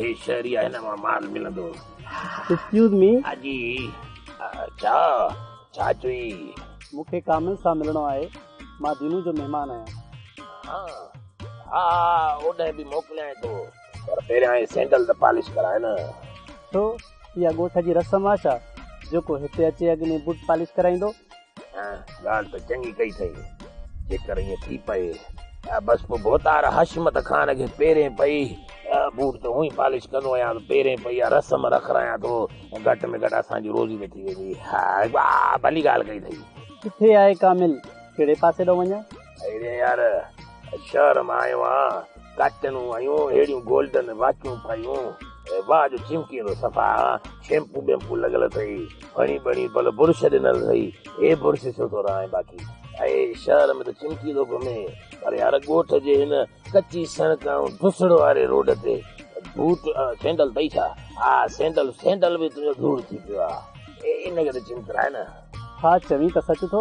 هي شهري آهي نه مان مال ملندو. Excuse me. ها جي ڇا ڇا چوي. مون کي ڪامل سان ملڻو آهي مان دينو جو مهمان آهيان. ها ها اوڏانهن به موڪليانء ٿو پر پهريان هي سينڊل ته پالش ڪرائي نه. ڇو اها ڳوٺ جي رسم آهي ڇا جو ڪو هتي اچي اڳ ۾ بوٽ پالش ڪرائيندو. ڳالهه ته چڱي ڪئي اٿئي، جيڪر ائين ٿي پئي ته بس پوء ڀوتار حشمت خان کي پيرين پئي بوٽ ته هونئن پالش ڪندو آهيان، پيرين پئي اها رسم رکرايان ٿو، گهٽ ۾ گهٽ اسان جي روزي ته ٿي ويندي. ها ڀلي ڳالهه ڪئي اٿئي. ڪٿي آهي ڪامل؟ ڪهڙي پاسي ڏانهن وڃان؟ اهڙي يار شهر مان آيو آهيان، ڪاٽينون هيون، ههڙيون گولڊن واچون پايون، ۽ واهه جو چمڪيندو صفا آهيان، شيمپو بيمپو لڳل اٿئي، ڀڻي ڀڻي پل برش ڏنل اٿئي، هي برش ڇو ٿو رهائين باقي؟ اهي شهر ۾ ته چمڪي ٿو گهمين، پر يار ڳوٺ جي هن ڪچي سڻڪ ۽ ڍسڙ واري روڊ تي بوٽ ۽ سينڊل اٿئي ڇا؟ ها سينڊل سينڊل به تنهنجو ڌوڙ ٿي پيو آهي، ان کي ته چمڪراء نه. ها چوين ته سچ ٿو.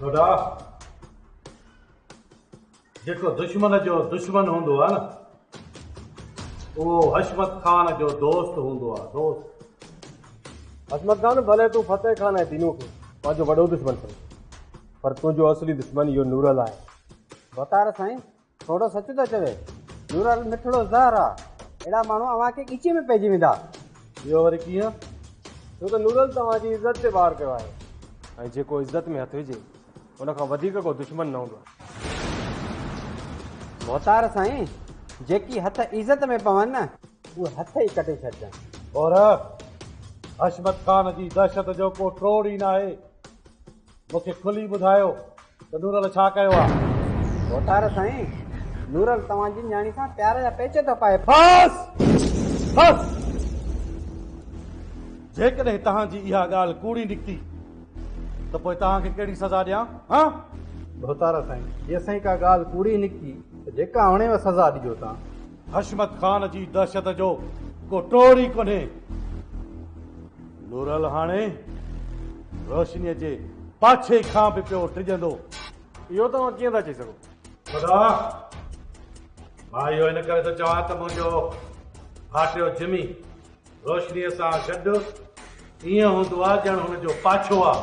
ٺوڏا، جيڪو دشمن جو دشمن هوندو آهي نه، اهو حشمت خان جو دوست هوندو آهي، دوست. حشمت خان، ڀلي تون فتح خان ۽ دينو کي پنهنجو وڏو دشمن سمجهه، پر تنهنجو اصلي دشمن اهو نورل آهي. وقار سائين، سوڍو سچ ٿو چوي. نورال مٺڙو زهر آ. اهڙا ماڻهو اوهان کي ڳچيء ۾ پئجي ويندا. اهو وري ڪيئن؟ ڇو ته نورال توهان جي عزت تي وار ڪيو آهي. ۽ جيڪو عزت ۾ هٿ وجهي ان کان وڌيڪ ڪو دشمن نه هوندو. ڀوتار سائين، جيڪي هٿ عزت ۾ پون نه، اهي هٿ ئي ڪٽي ڇڏجن. پورهه! حشمت خان جي دهشت جو ڪو ٽوڙ ئي ناهي. مون کي کلي ٻڌايو ته نورل ڇا ڪيو آ؟ ڀوتار سائين، نورل توهان جي نياڻي سان پيار جا پيچ ٿو پائي. بس! بس! جيڪڏهن توهان جي اها ڳالهه ڪوڙي نڪتي ته پوء توهان کي ڪهڙي سزا ڏيان ها؟ ڀوتار سائين، جيسين ڪا ڳالهه ڪوڙي نڪتي ته جيڪا وڻيو سزا ڏجو توهان. حشمت خان جي دهشت جو ڪو ٽوڙ ئي ڪونهي. نورل هاڻي روشنيء جي پاڇي کان به پيو ڊڄندو. اهو توهان ڪيئن ٿا چئي سگهو؟ خدا! مان اهو ان ڪري ٿو چوان ته منهنجو ڀاٽيو جمي روشنيء سان گڏ ائين هوندو آهي ڄڻ هن جو پاڇو آهي.